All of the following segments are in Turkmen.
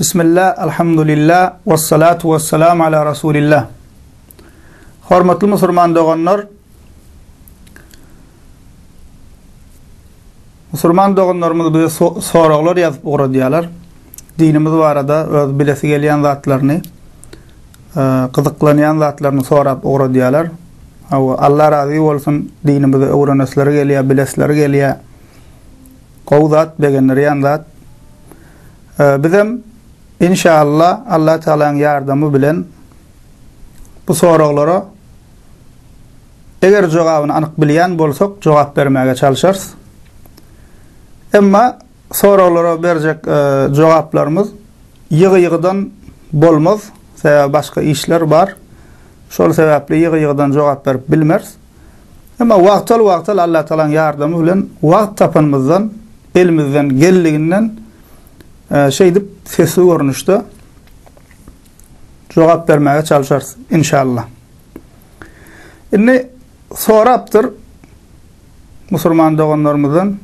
Bismillah, alhamdulillah, wassalatu wassalam ala rasulillah. Hormatly musulman doganlar, Musulman doganlarymyz bize soraglar ýazyp ugradýarlar. Dinimiz barada öz bilesi gelýän zatlaryny, e, gyzyklanýan zatlaryny sorap ugradýarlar. Hawa, Allah razy bolsun, dinimizi öwrenesleri gelýär, bilesleri gelýär. Gowy zat begendirýän zat. Bizem inşalla Allah Tagalaň ýardamy bilen bu soraglara eger jogabyny anyk bilýän bolsak jogap bermäge çalşarys. Emma soraglara berjek jogaplarymyz ýygy-ýygydan bolmaz. Sebäbi başga işler bar. Şol sebäpli ýygy-ýygydan jogap berip bilmeris. Emma wagtal-wagtal Allatagalaň ýardamy bilen wagt tapanymyzdan, elimizden geldiginden şeýdip sesli görnüşde jogap bermäge çalşarys, inşallah. Indi sorapdyr musulman doganlarymyzdan.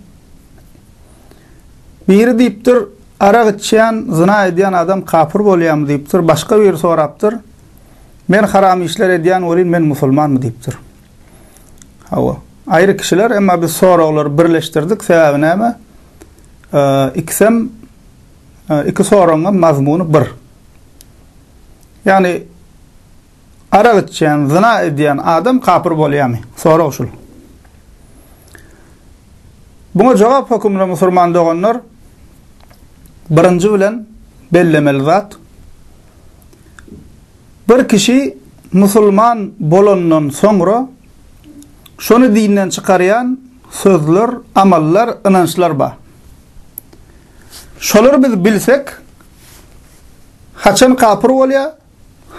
Biri diýipdir, arak içýän, zyna edýän adam kapyr bolýarmy diýipdir, başga biri sorapdyr. Men haram işler edýän welin men musulmanmy diýipdir. Hawa. Aýry kişiler, emma biz soraglary birleşdirdik, sebäbi näme? Ikisem iki soragyňam mazmuny bir. Ýagny arak içýän, zyna edýän adam kapyr bolýarmy? Sorag şul. Buna jogap hökümli musulman doganlar birinji bilen bellemeli zat Bir kişi musulman bolandan soňra şony dinden çykarýan sözler, amallar, ynançlar bar. Şolary biz bilsek, haçan kapyr bolýar,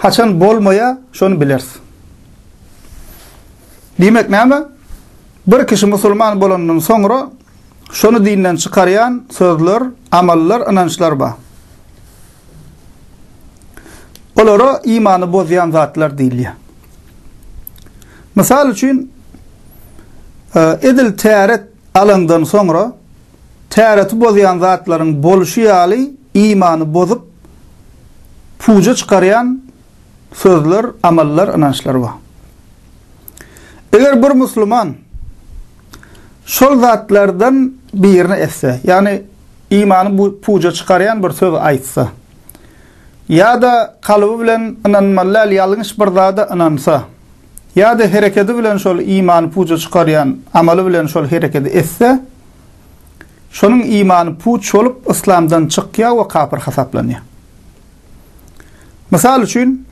haçan bolmaýar, şony bileris. Diýmek näme? Bir kişi musulman bolandan soňra Şony dinden çykarýan sözler, amallar, ynançlar bar. Olara imany bozýan zatlar diýilýär. Mysal üçin, e, edil täret alandan soňra täreti bozýan zatlaryň boluşy ýaly imany bozup puja çykarýan sözler, amallar, ynançlar bar. Eger bir musulman şol zatlardan birini etse, ýagny imany bu puja çykarýan bir söz aýtsa, ýa-da kalby bilen ynanmaly däl ýalňyş bir zada ynansa, ýa-da herekedi bilen şol imany puja çykarýan amaly bilen şol herekedi etse, şonuň imany puç bolup, yslamdan çykýar we kapyr hasaplanýar. Mysal üçin,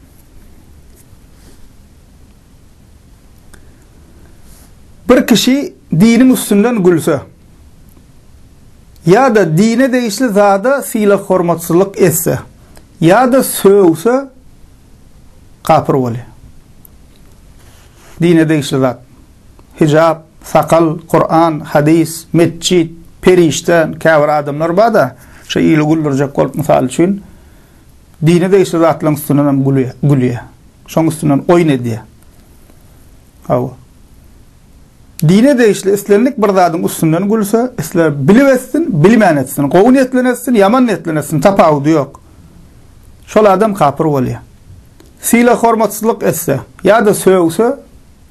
bir kişi diniň üstünden gülse ýa-da dine degişli zada sylag-hormatsyzlyk etse ýa-da sögse, kapyr bolýar. Dine degişli zat. hijap, sakal, Kuran, hadys, metjit, perişde, käbir adamlar bar-da, şo ili güldürjek bolup, mysal üçin, dine degişli zatlaryň üstünden hem gülýär. Şoň üstünden oýun edýär. Hawa. Dine degişli islendik bir zadyň üstünden gülse, isle bilip etsin, bilmän etsin, gowy niýetlen etsin, ýaman niýetlen etsin, tapawudy ýok. Şol adam kapyr bolýar. Sylag-hormatsyzlyk etse ýa-da sögse,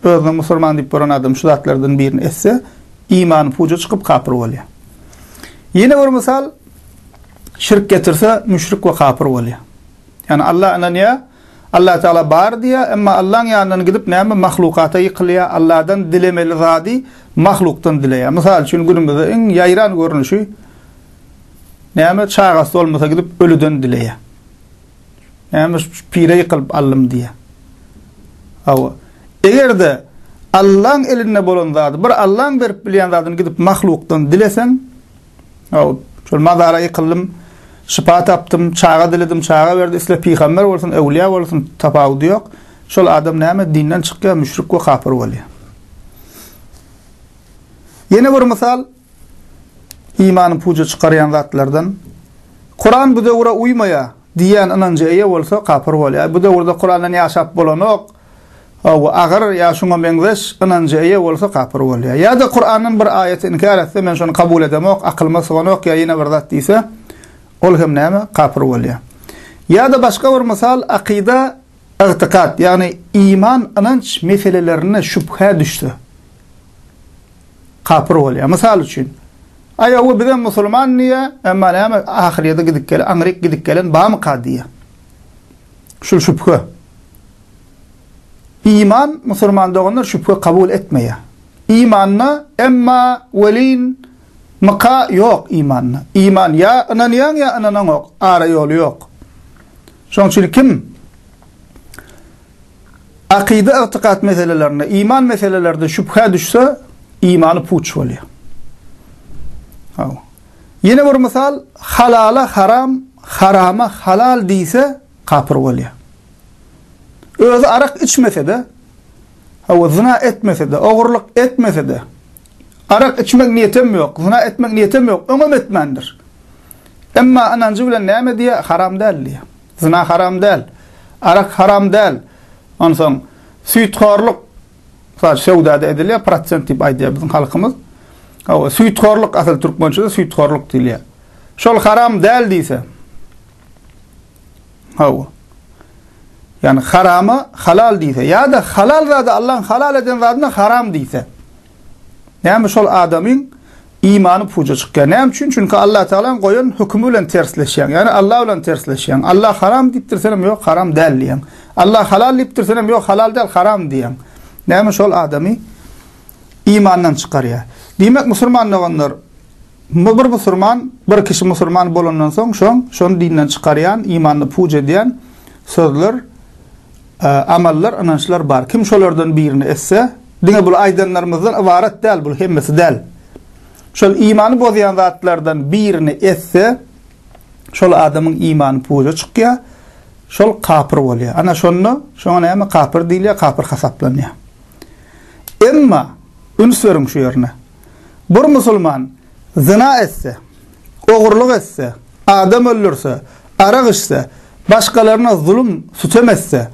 Özüni musulman diýip gören adam şu zatlardan birini etse, imany puja çykyp kapyr bolýar. Ýene bir mysal, şirk getirse, müşrik we kapyr bolýar. Ýani Alla ynanýar, Alla Taala bar diýýär, emma Allaň ýanyndan gidip näme mahlukata ýykylýar, Alladan dilemeli zady mahlukdan dileýär. Mysal üçin günümizde iň ýaýran görnüşi näme çagasy bolmasa gidip ölüden dileýär. Näme şu pire ýykylyp aldym diýýä. Hawa. Eger-de Allaň elinde bolan zady, bir Allaň berip bilýän zadyny gidip mahlukdan dileseň, hawa, şol mazara ýykyldym, şypa tapdym, çaga diledim, çaga berdi, isle pygamber bolsun, öwlüýä bolsun, tapawudy ýok. Şol adam näme dinden çykýar, müşrik we kapyr bolýar. Ýene bir mysal. Imany puja çykarýan zatlardan, Kuran bu döwüre uýmaýar diýýän ynanja eýe bolsa kapyr bolýar. Bu döwürde Kurandan ýaşap bolanok, we agyr ýa şuňa meňzeş ynanja eýe bolsa kapyr bolýar. Ýa-da Kurandan bir aýaty inkär etse, men şony kabul edemok, akylyma syganok ýa ýene bir zat diýse, ol hem näme, kapyr bolýar. Ýa-da başga bir mysal, akyda, ygtykat, ýagny iman, ynanç meselelerinde şübhä düşse. kapyr bolýar. Mysal üçin, Aýaw bizem musulman diýýär, emma näme ahyrýete gidip gelen, aňryk gidip gelen barmyka diýýär. Şul şübhe. Iman musulman doganlar şübhe kabul etmeýär. Imanda emma welin myka ýok imanda. Iman ýa ynanýaň ýa ynanaňok, ara ýoly ýok. Şonuň üçin kim akyda-ygtykat meselelerinde, iman meselelerinde şübhä düşse, imany puç bolýar. Haw. Ýene bir mysal, halala haram, harama halal diýse, kapyr bolýar. Özi arak içmese-de, hawa zina etmese-de, ogurlyk etmese-de, Arak içmek niýetem ýok, zyna etmek niýetem ýok, öňem etmändir. Emma ynanjy bilen näme diýýär? Haram däl diýýär. Zyna haram däl, arak haram däl. Onsoň süýthorluk, mysal üçin söwdada edilýär, prosent diýip aýdýar biziň halkymyz. Hawa, süýthorluk, asyl türkmençede süýthorluk diýilýär. Şol haram däl diýse, Hawa. Ýani harama halal diýse, ýa-da halal zada Allaň halal eden zadyna haram diýse. Näme şol adamyň imany puja çykýar. Näme üçin? Çünki Allah Tagalaň goýan hökümi bilen tersleşýär. Ýani Allah bilen tersleşýär. Allah haram diýipdir, sen hem ýok, haram däl diýýär. Allah halal diýipdir, sen hem ýok, halal däl, haram diýýär. Näme şol adamy imandan çykarýar. Diýmek, musulman doganlar, Muňa bir musurman, bir kişi musurman bolandan soň şoň, şony dinden çykarýan, imanyny puç edýän sözler, amallar, ynançlar bar. Kim şolardan birini etse, diňe bul aýdanlarymyzdan ybarat däl, bul hemmesi däl. Şol imany bozýan zatlardan birini etse, şol adamyň imany puja çykýar, şol kapyr bolýar. Ana şonda şoňa näme kapyr diýilýär, kapyr hasaplanýar. Emma, üns beriň şu ýerine, bir musulman zyna etse, ogurlyk etse, adam öldürse, arak içse, başgalaryna zulum, sütem etse,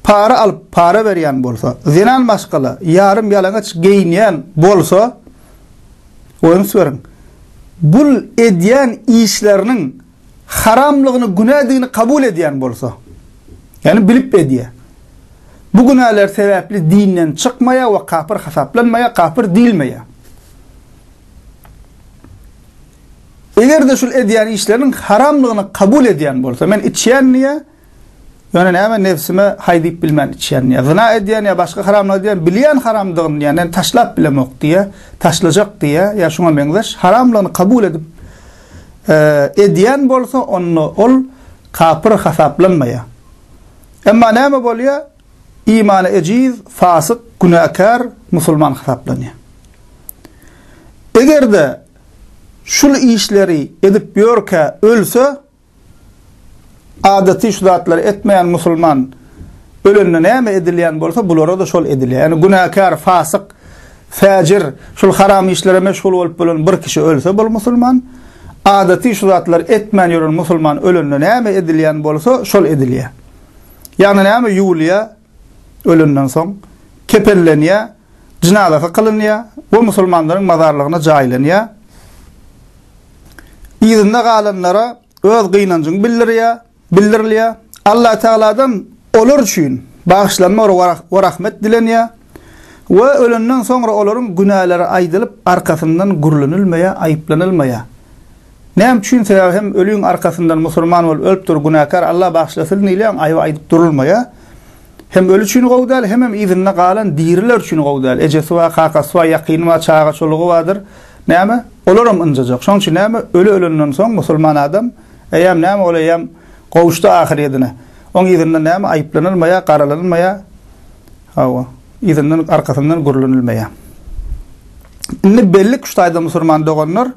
para alyp, para berýän bolsa, zenan maşgala, ýarym ýalaňaç geýinýän bolsa, üns beriň, bul edýän işleriniň. haramlygyny, günädigini kabul edýän bolsa, ýagny bilip edýär. Bu günäler sebäpli dinden çykmaýar we kapyr hasaplanmaýar, kapyr diýilmeýär. Eger-de şul edýän işleriniň haramlygyny kabul edýän bolsa, men içýän diýýär, Ýöne näme nebsime haý diýip bilmän içýän ýa zyna edýän ýa başga haramlyk edýän bilýän haramdygyny ýa näni taşlap bilemok diýýä taşlajak diýýä ýa şuňa meňzeş haramlygyny kabul edip edýän bolsa onda ol kapyr hasaplanmaýa emma näme bolýa imany ejiz fasyk günäkär musulman hasaplanýa egerde şul işleri edip ýörkä ölse Adaty şu zatlary etmeýän musulman ölende näme edilýän bolsa bulara-da şol edilýär. Ýagny günäkär, fasyk, fäjir, şul haram işlere meşgul bolup bolan bir kişi ölse bul musulman, adaty şu zatlary etmän ýören musulman ölende näme edilýän bolsa şol edilýär. Ýagny näme ýuwulýar ölenden soň, kepenlenýär, jynazasy kylynýar we musulmanlaryň mazarlygyna jaýlanýar. Yzynda galanlara öz gynanjyň bildirýär, bildirilýär. Allah Tagaladan olar üçin bagyşlanma we rahmet dilenýär we ölenden soňra olaryň günäleri aýdylyp, arkasyndan gürlenilmeýär, aýyplanylmaýar. Näme üçin sebäbi hem ölüň arkasyndan musulman bol ölüp dur günäkär Allah bagyşlasyn diýilýän aýby aýdyp durulmaýa hem ölü üçin gowy däl hemem yzynda galan diriler üçin gowy däl ejesi bar kakasy bar ýakyny bar çaga çolugy bardyr näme olaram ynjajak şoň üçin näme ölü ölenden soň musulman adam eýýäm näme ol eýýäm gowuşdy ahyryýedine oň yzyndan näme aýyplanylmaýa garalanylmaýa hawa yzyndan arkasyndan gürlenilmeýä indi bellik şu taýda musulman doganlar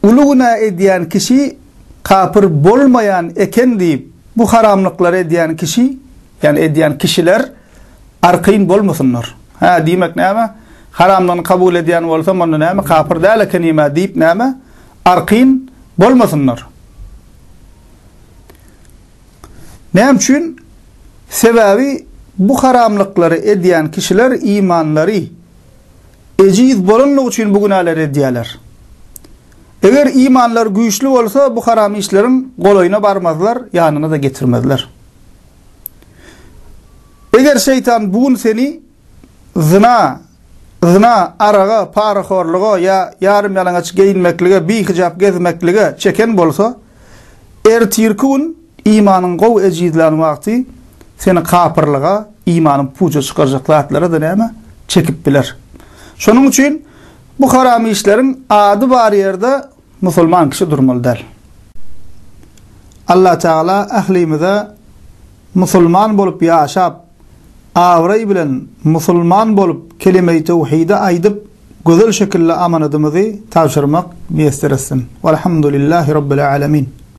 Uly günä edýän kişi kapyr bolmaýan eken diýip, bu haramlyklary edýän kişi, ýagny edýän kişiler arkaýyn bolmasynlar. Hä, diýmek näme? Haramlygyny kabul edýän bolsam, onda näme, kapyr däl ekenim-ä diýip näme, arkaýyn bolmasynlar. Näme üçin? Sebäbi bu haramlyklary edýän kişiler imanlary, Ejiz bolanlygy üçin bu günäleri edýärler. Eger imanlary güýçli bolsa, bu haram işleriň golaýyna barmazlar, ýanyna-da getirmezler. Eger şeýtan bu gün seni zyna, zyna, araga, parahorluga ýa ýarym-ýalaňaç geýinmeklige, bihijap gezmeklige çeken bolsa, ertirki gün Imanyň gowy ejizlän wagty seni kapyrlyga, imanyň puja çykarjak zatlara-da näme? Çekip biler. Şonuň üçin bu haram işleriň ady bar ýerde musulman kişi durmaly däl. Allah Tagala ählimize musulman bolup ýaşap, abraý bilen musulman bolup kelimeý tewhidi aýdyp gözel şekilli amanadymyzy tabşyrmak miýesser etsin. Walhamdulillahi Rabbil Alemin.